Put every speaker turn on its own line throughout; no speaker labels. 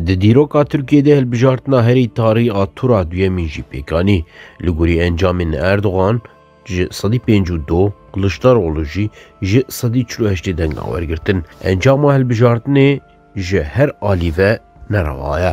Di dîroka Tirkiyê de hilbijartina herî tarî a tura duyemîn jî pêk anî. Li gorî encamên Erdogan ji sedî pênc û du, Kiliçdaroglu jî ji sedî çil û heştê dengan wergirtin. Encama hilbijartinê ji her alî ve nerewa ye.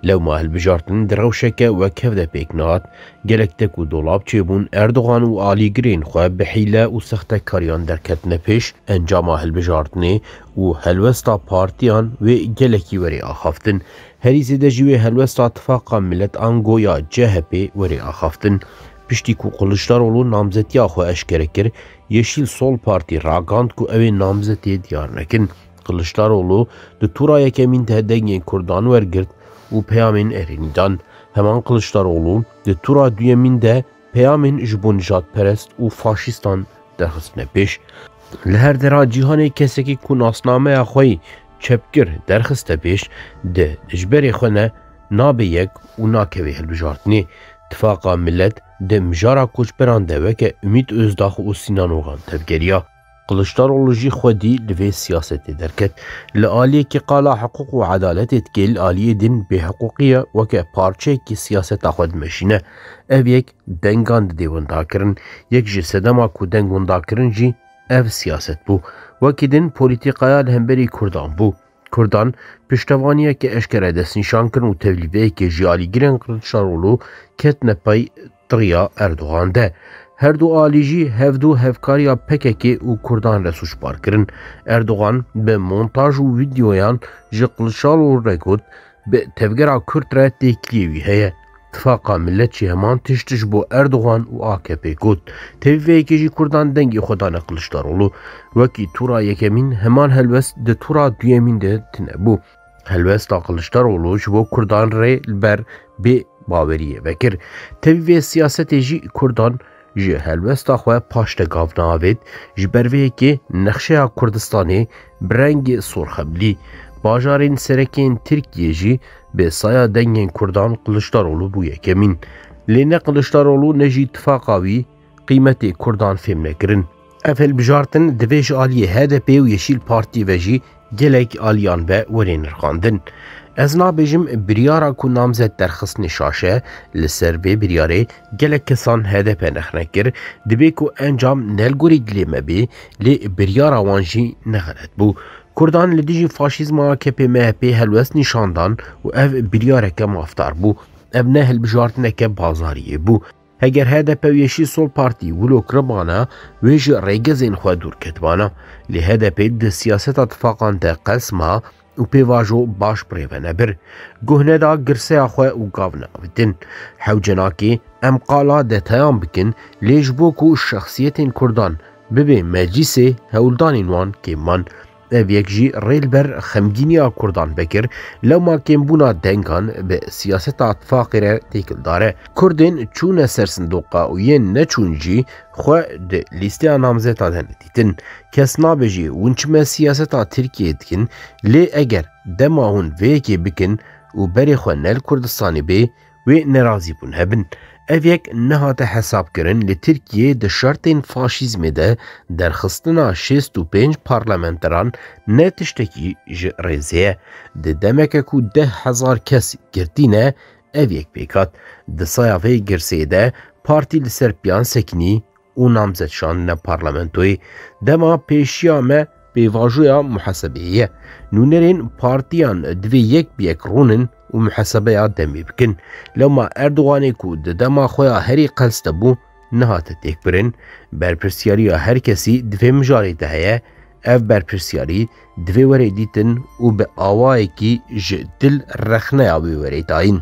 Lewma hilbijartin di rewşeke wek hev de pêk nehat, gelek tek û dolab çêbûn, Erdogan û alîgirên xwe bi hîle û sextekariyan derketine pêş, encama hilbijartinê û helwesta partiyan wê gelekî werê axaftin. Herî zêde jî wê helwesta Tifaqa Milet ango ya CHP'ê werê axaftin. Piştî ku Kiliçdaroglu namzetiya xwe eşkere kir, Yeşîl Sol Partî ragand ku ew ê namzetê diyar nekin. Kiliçdaroglu di tura yekemîn de dengên Kurdan wergirt û peyamên erênî dan. Heman Kiliçdaroglu di tura duyemîn de peyamên ji bo nijadperest û faşîstan derxistine pêş. Li her dera cîhanê kesekî ku nasnameya xwe yê çepgir derxiste pêş, di dijberê xwe ne nabe yek û nakeve hilbijartinê. Tifaqa Milet di mijara koçberan de weke Umît Ozdax û Sinan Ogan tevgeriya. Kiliçdaroglu jî xwedî li vê siyasetê derket. Li aliyekî qala hiqûq û edaletê dike, li aliyê din bêhiqûqiya weke parçeyekî siyaseta xwe dimeşîne. Ev yek dengan didê windakirin. Yek ji sedema ku deng windakirin jî ev siyaset bû. Wekî din polîtîkaya li hemberî Kurdan bû. Kurdan piştevaniyeke eşkere destnîşan kirin û tevlîveyekê jî alîgirên Qiliçdaroglu ketine pey tiriya Erdogan de. Her du alî jî hevdu hevkariya PKK'ê û Kurdan re sûcbar kirin. Erdogan bi montaj û vîdeoyan ji Qiliçdaroglu re got, Bi tevgera Kurd re têkiliyê wî heye. Tifaqa Millet jî heman tişt ji bo Erdogan û AKP'ê got. Tevî vê yekê jî Kurdan dengê xwe dane Kiliçdaroglu. Wekî tûra yekemîn, heman helwest di tûra duyemîn de tune bû. Helwesta Kiliçdaroglu ji bo Kurdan rê li ber bê baweriyê vekir. Tevî vê siyasetê jî Kurdan Ji helwesta xwe paş te gav naavêt, ji ber vê yekê nexşeya Kurdistanê bi rengê sor xeblî. Bajarên serekiyên Tirkiyê jî bi saya dengên Kurdan Kiliçdaroglu bû yekemîn. Lê ne Kiliçdaroglu ne jî tifaqa wî qîmetê Kurdan fêm nekirin. Ev hilbijartin divê ji aliyê HDP'ê û Yeşîl Partiyê ve jî gelek aliyan be were nirxandin. Ez nabêjim biryara ku namzet derxistinê şaşe li ser vê biryarê gelek kesan HDP nexne kir, divê ku encam ne li gorî dilê me bê lê biryara wan jî ne xelet bû. Kurdan li dijî faşîzma AKP-MHP'ê helwest nîşan dan û ev biryareke mafdar bû. Ev ne hilbijartineke bazariyê bû. Heger hdp û Yeşîl Sol Partî wilo kiribana, wê ji rêgezên xwe dûr ketibana. Lê hdpê di siyaseta tifaqan de qels ma û pêvajo baş birêvene bir. Guh neda girseya xwe û gav neavitin. Hewce nake em qala detayan bikin lê ji bo ku şexsiyetên Kurdan bibê meclîsê hewldanên wan kêm man. Ev yek jî rê li ber xemgîniya Kurdan vekir, lewma kêmbûna dengan bi siyaseta tifaqê re têkildar e. Kurdên çûne ser sindoqa û yên neçûn jî xwe di lîsteya namzetan hene dîtin. Kes nabêjî hûn çime siyaseta Tirkiyeyê dikin, lê eger dema hûn vê yekê bikin û berê xwe ne li Kurdistanê bê, Wê nerazî bûn hebin. Ev yek nehate hesabkirin li Tirkiyeyê di şertên faşîzmê de derxistina şêst û pênc parlamenteran ne tiştekî ji rêzê ye. Di demeke ku deh hezar kes girtîne ev yek pêk hat. Di saya vê girseyê de partî li ser piyan sekinî û namzet şandine parlamentoyê, dema pêşiya me pêvajoya muhesebeyê ye. Nûnerên partiyan divê yek bi yek rûnin û muhesebeya demê bikin. Lewma Erdoganê ku di dema xwe ya herî qels de bû, nehate têkbirin, berpirsyariya her kesî di vê mijarê de heye, ev berpirsyarî divê were dîtin û bi awayekî ji dil rexneya wê were dayîn.